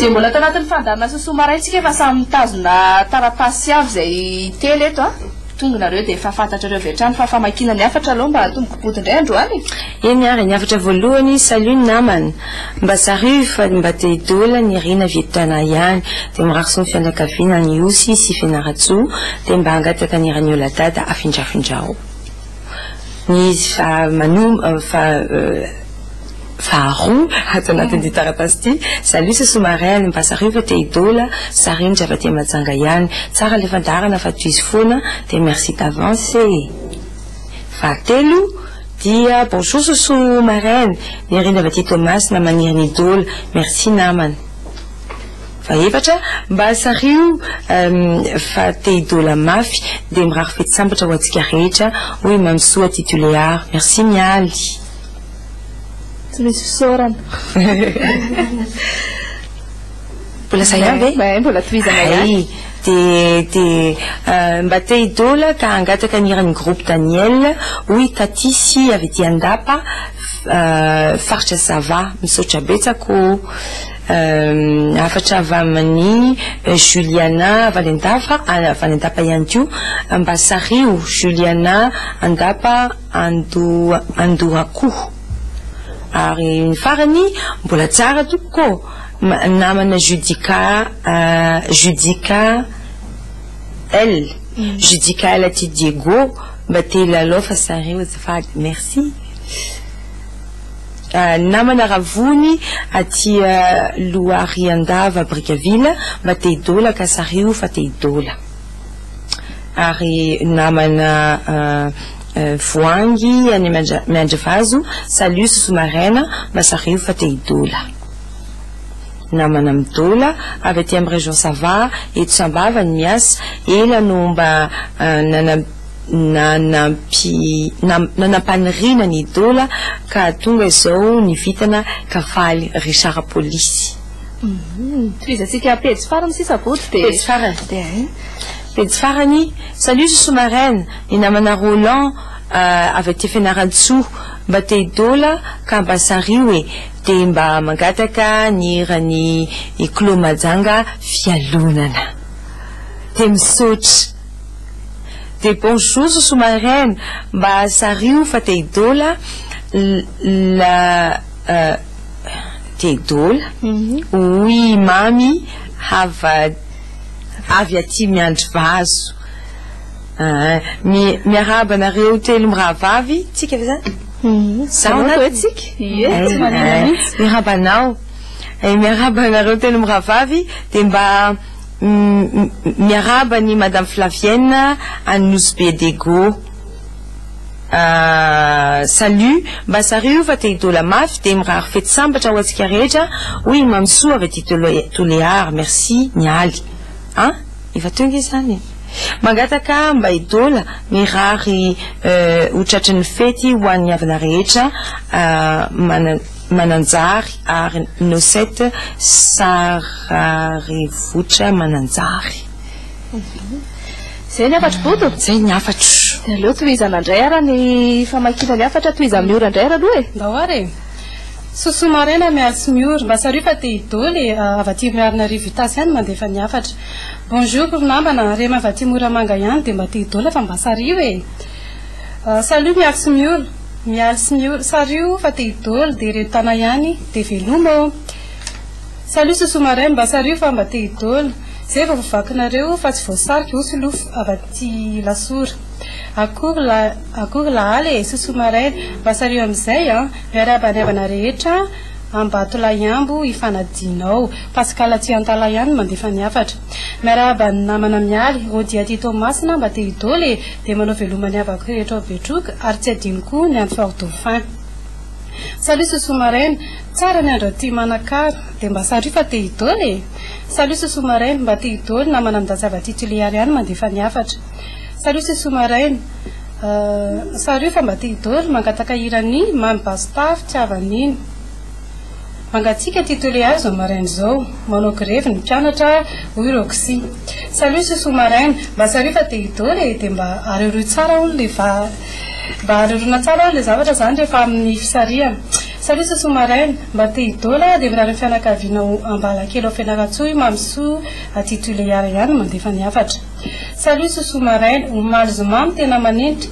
dia mbola ato anatin'ny fandaminasa soa maraintsika efa samy mitazona taratasy avy izay telo eto a ah. tongonareo dia efa fantatrareo avy hatrany fa famakiana ny hafatra aloha mba hatomboky boty indray androany e. eny ary ny hafatra voalohany salut namana Mba zarivo fa mba te hidola ny rina vietnam ihany de mirary soa ny fianakaviana any Ihosy sy Fianarantsoa de mba hangataka ny raniola dada afindrafindrao ny izy fa manom fa faharoa ato anatin ty taratasy ty salut c'est sous-marin mba zarivo fa te hidola zary indry avy aty Mahajanga ihany tsara le fandaharana fa tohizo foana de merci d'avance e fahatelo Dia bonjour sosoa maraina Nirina avy aty Toamasina maniry ny dola merci namana Fa efatra mba sario Fa te hidola mafy Dia mirary fety sambatra ho antsika rehetra Hoy i Mamy soa aty Tulear merci Mialy. Tsy misy fisaorana. Mbola zay ihany ve? Hay, mbola tohizana ihany. Hay, dia dia mba te hidola ka hangataka ny hiran'ny groupe Daniel, hoy Tatisy avy ety Andapa, faritra Sava. Misaotra betsaka o. Hafatra avy amin'i Juliana avy any Andapa, avy any Andapa ihany koa, mba sariho, Juliana Andapa Ando Andohako. Ary ny farany, mbola tsara tompoko ô. namana Judica Judica L Judica L aty Diego mba te hilalao fa zareo azafady merci namana Ravony aty Lohariandava Brickaville mba te hidola ka zareo fa te hidola ary namana Voahangy any Miandrivazo salut Sosoa Maraina mba zareo fa te hidola. Namana Mdola avy aty amin'ny région Sava eto Sambava no miasa, ela no mba nanam nanampi nam nanam-paniriana ny Dola ka tonga izao ny vintana ka faly ry Sara Polisy. Tohizantsika pejy farany sisa Bodo dia. Pejy farany dia eh. Pejy farany, Salut Zoso Maraina, ny namana Roland avy aty Fianarantsoa mba te hi-Dola ka mba sario e. Dia mba mangataka ny hiran'i Iclo Majanga Fialonana. Dia misaotra. Dia bonjour Sosoa Maraina, mba sario fa te hidola la te hidola hoy i Mamy hava avy aty Miandrivazo. Aa mi miarahaba anareo telo mirahavavy tsika ve zany Zaho na hoe tsika Ie tsy manina mihitsy Miarahaba anao Eh, miarahaba anareo telo mirahavavy dia mba mi miarahaba an'i madame Flavienne any Nosy Be Dego Aa salut mba zary io fa te hidola mafy dia mirary fety sambatra ho antsika rehetra hoy i Mamy soa avy aty Tole Tolear merci Mialy an! Efa teo nge zany e. Mangataka mba hidola mirary ho tratry ny fety ho an'ny havana rehetra Mananjary ary Nosette Sararivotra Mananjary. Izay ny hafatro Bodo? Izay ny hafatro. Dia aleo tohizana indray ary ny famakiana ny hafatra, tohizan'ny ora indray ary aloha e. Ndao ary e. Sosoa maraina mialy sy miory. Mba sario fa te hidoly e, avy aty Miarinarivo Itasy ihany mandefa ny hafatra. Bonjour ry namana, rem avy aty Moramanga ihany dia mba te hidola fa mba sario e. Salut mialy sy miory. Mialy sy miory. Sario fa te hidoly dia ireto tana ihany dia veloma ô. Salut sosoa maraina, mba sario fa mba te hidoly. Zay vao voavakinareo fa tsy voasarika osy lofo avy aty Ilasora. Akory lahaly e, sosoa maraina. Mba sario amin'izay an. Miarahaba ny havana rehetra Ambatolahiambo Ifanadinao. Pascal Tsiantala ihany no mandefa ny hafatra. Miarahaba ny namana Mialy, Rody aty Toamasina mba te hidoly e, dia manao veloma ny havako rehetra ao Betroka ary tsy adino koa ny any Fort Dauphin. Salut Sousou Maraina, tsara ny andro aty Manakara, dia mba sario fa te hidoly e. Salut Sousou Maraina, mba te hidoly namana Midatsy avy aty Tuléar ihany mandefa ny hafatra. Salut c'est Soumaraina euh, salut fa mba te hidory mangataka hiran'i Mamy Basta fitiavan'iny mangatsiaka ty tele azy zao maraina zao manao grevy ny mpianatra hoy ireo kisi salut c'est Soumaraina mba salut fa te hidory e de mba areoreo tsara hono le va mba areorona tsara hono le zavatra zany rehefa amin'ny fisarihana salut c'est Soumaraina mba te hidola de mirary ny fianakaviana ao Ambalakely ao Fianarantsoa i Mamy Soa aty Tuléar ihany mandefa ny hafatra Salut sous sous maraina, omaly zoma no tena manenitra,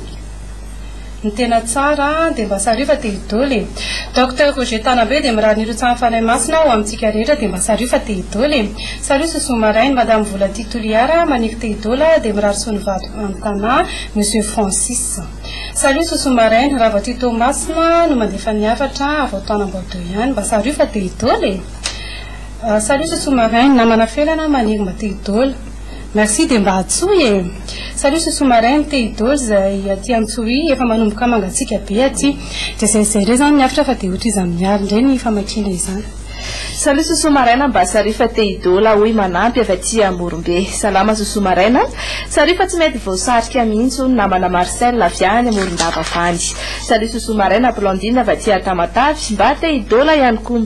ny tena tsara dia mba sario fa te hidoly e! Docteur Roger Tanambe dia mirary ny hirotsahan'ny Fanahy Masina ho amintsika rehetra dia mba sario fa te hidoly e! Salut sous sous maraina, Madame Volati Toliara maniky te hidoly aho dia mirary soa ny vadiko any Tana, Monsieur Francis. Salut sous sous maraina, raha vao tia Toamasina no mandefa ny hafatra aho vao taona Amboadio ihany, mba sario fa te hidoly e! Salut sous sous maraina, namana felana maniry mba te hidoly. Merci de mba atsoy e. Salut ce sous marin te idols zay aty antsohihy efa manomboka mangatsiaka be aty de zay zay re zany miavotra fa de ohatry iza miaro ndray ny famakiana izany. Salut ce sous marin mba sario fa te idol aho hoy manampy avy aty amorombe. Salama ce sous marin a. Sario fa tsy mety voasarika mihitsy hono namana Marcel avy any amorondava avy any. Salut ce sous marin Blondine avy aty Tamatave mba te idol ihany koa.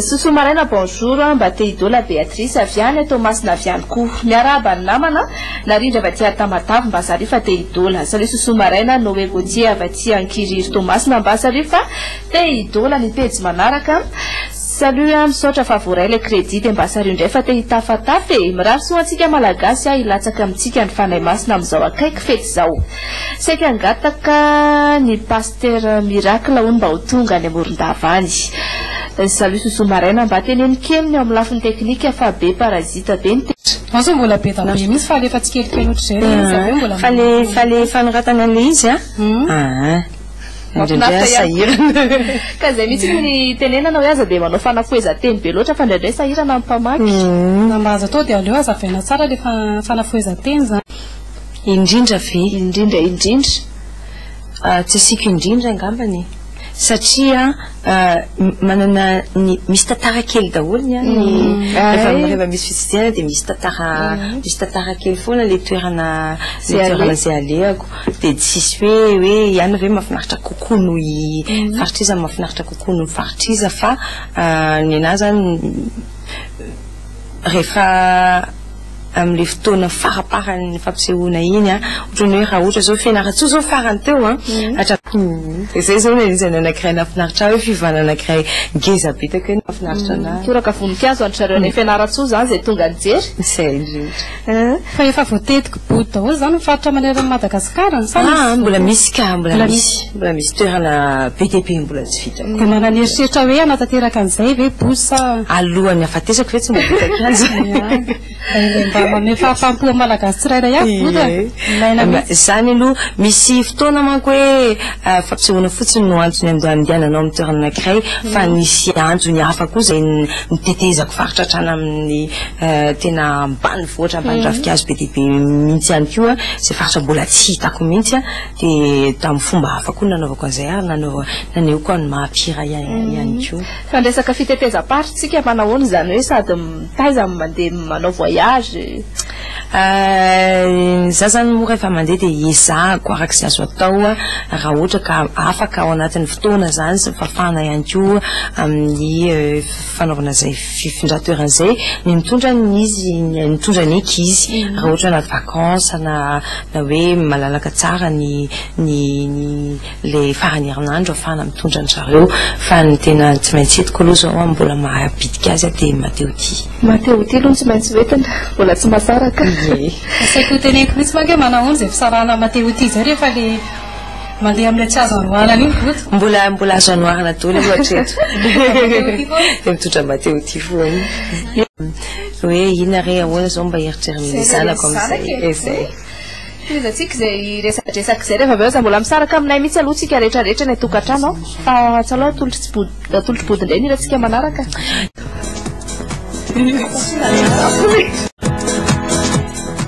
Sosoa maraina bonjour mba te hidoa la Béatrice avy any à Toamasina avy any koa miarahaba ny namana narindra avy aty à Tamatave mba zareo fa te hidola salut sosoa maraina Noé Gauthier avy aty Ankiriry Toamasina mba zareo fa te hidola ny pejy manaraka salut a misaotra fa voaray ilay crédit dia mba sario indray fa te hitafatafa e mirary soa antsika malagasy a hilatsaka amintsika ny fanahy masina amin'izao akaiky fety izao saika hangataka ny pas Mister Miracle hono mba ho tonga any Morondava any. Salut Sousou Maraina mba teneno kely ny ao amin'ny lafiny teknika fa be parasite be ny Ao izao mbola be da be mihintsy fa alefa tsikelikely ohatr'izay ilay izy avy eo mbola Fa le fa le fanoratana an'ilay izy a aa indraindray aza sahirana e. Ka izay mihitsy no ny tenenana hoe aza dia manao fanafohezan-teny be loatra fa indraindray sahirana ny mpamaky. Na mba aza atao dia aleo hazavaina tsara ilay fanafohezan-teny izany. Indrindra ve? Indrindra indrindra. Tsy asiako indrindra angambany e. Satria manana ny, misy tantara kely daholo ny ahy, rehefa misy fitsidiana dia misy tantara, misy tantara kely foana ilay toerana, ilay toerana izay alehako. Dia tsisy hoe, hoe ihany ve mahafinaritra kokoa noho i faritr'iza, mahafinaritra kokoa noho ny faritr'iza fa ny an'ahy izany, rehefa amin'ilay fotoana faraparan'ny fampisehoana iny an, ohatran'ny hoe raha ohatra izao Fianarantsoa izao farany teo an, hatramin'ny, dia izay izao no anisany anankiray nahafinaritra ahy hoe fiovana anankiray ngeza be teo kay no mahafinaritra an'ahy. Toraka voninkazo an-dry zareo any Fianarantsoa izany izay tonga nijery. Izay indrindra. Fa efa voatety kibodo daholo izany ny faritra maneran'i Madagasikara an? Sa misy? Mbola misy ka, mbola misy. Mbola misy toerana be dia be mbola tsy vita. Dia manana eritreritra hoe hanatanteraka an'izay ve Bus sa? Alohan'ny hahafatesako ve tsy mba vita kianja? Mba mamehy fahafaham-po an'ny Malagasy tsirairay avy Bus a? Ilaina mihitsy. Izany aloha, misy fotoana manko hoe fampisehoana fotsiny no antony andehananao amin'ny toerana anankiray fa nisy antony hafa koa izay nitetezako faritra hatrany amin'ny tena ambanivohitra ambany ravinkazo be dia be mihitsy ihany koa izay faritra mbola tsy hitako mihitsy a, dia tamin'ny fomba hafa koa no nanaovako an'izay ary nanao naneho koa ny maha mpihira ihany koa. Fa ny resaka fitetezam-paritrisika manahoana izany hoe sady mitaiza no mandeha manao voyage? Izaho izany moa rehefa mandeha dia ezahako araka izay azo atao raha ohatra ka afaka ao anatin'ny fotoana izany sy ny fahafahana ihany koa amin'ny fanaovana izay fifindran-toerana izay ny mitondra ny izy ny mitondra ny eky izy raha ohatra anaty vacances na na hoe malalaka tsara ny ny ny le faran'ny herinandro afahana mitondra ny zareo fa ny tena tsy maintsy entiko aloha zao an mbola mahabitika azy dia mateo ty mateo ty aloha ny tsy maintsy hoentina mbola tsy masaraka asaiko ho teneniko mihitsy manko hoe manahona izay fisarahana mateo ty izay rehefa le Mandeha amin'ilay tsy azo androanana iny voto. Mbola mbola azo anoharana daholo aloha hatreto. Dia mitondra Matteo ity foana. Hoe inona re ahoana zao mba eritreriny ny zanako amin'izay e zay. Tohizantsika izay resadresaka izay rehefa avy eo aza mbola misaraka aminay mihitsy aloha tsika rehetra rehetra any an-tokantrano an! Fa tsy aleo atolotry tsy body atolotry body indray ny hirantsika manaraka.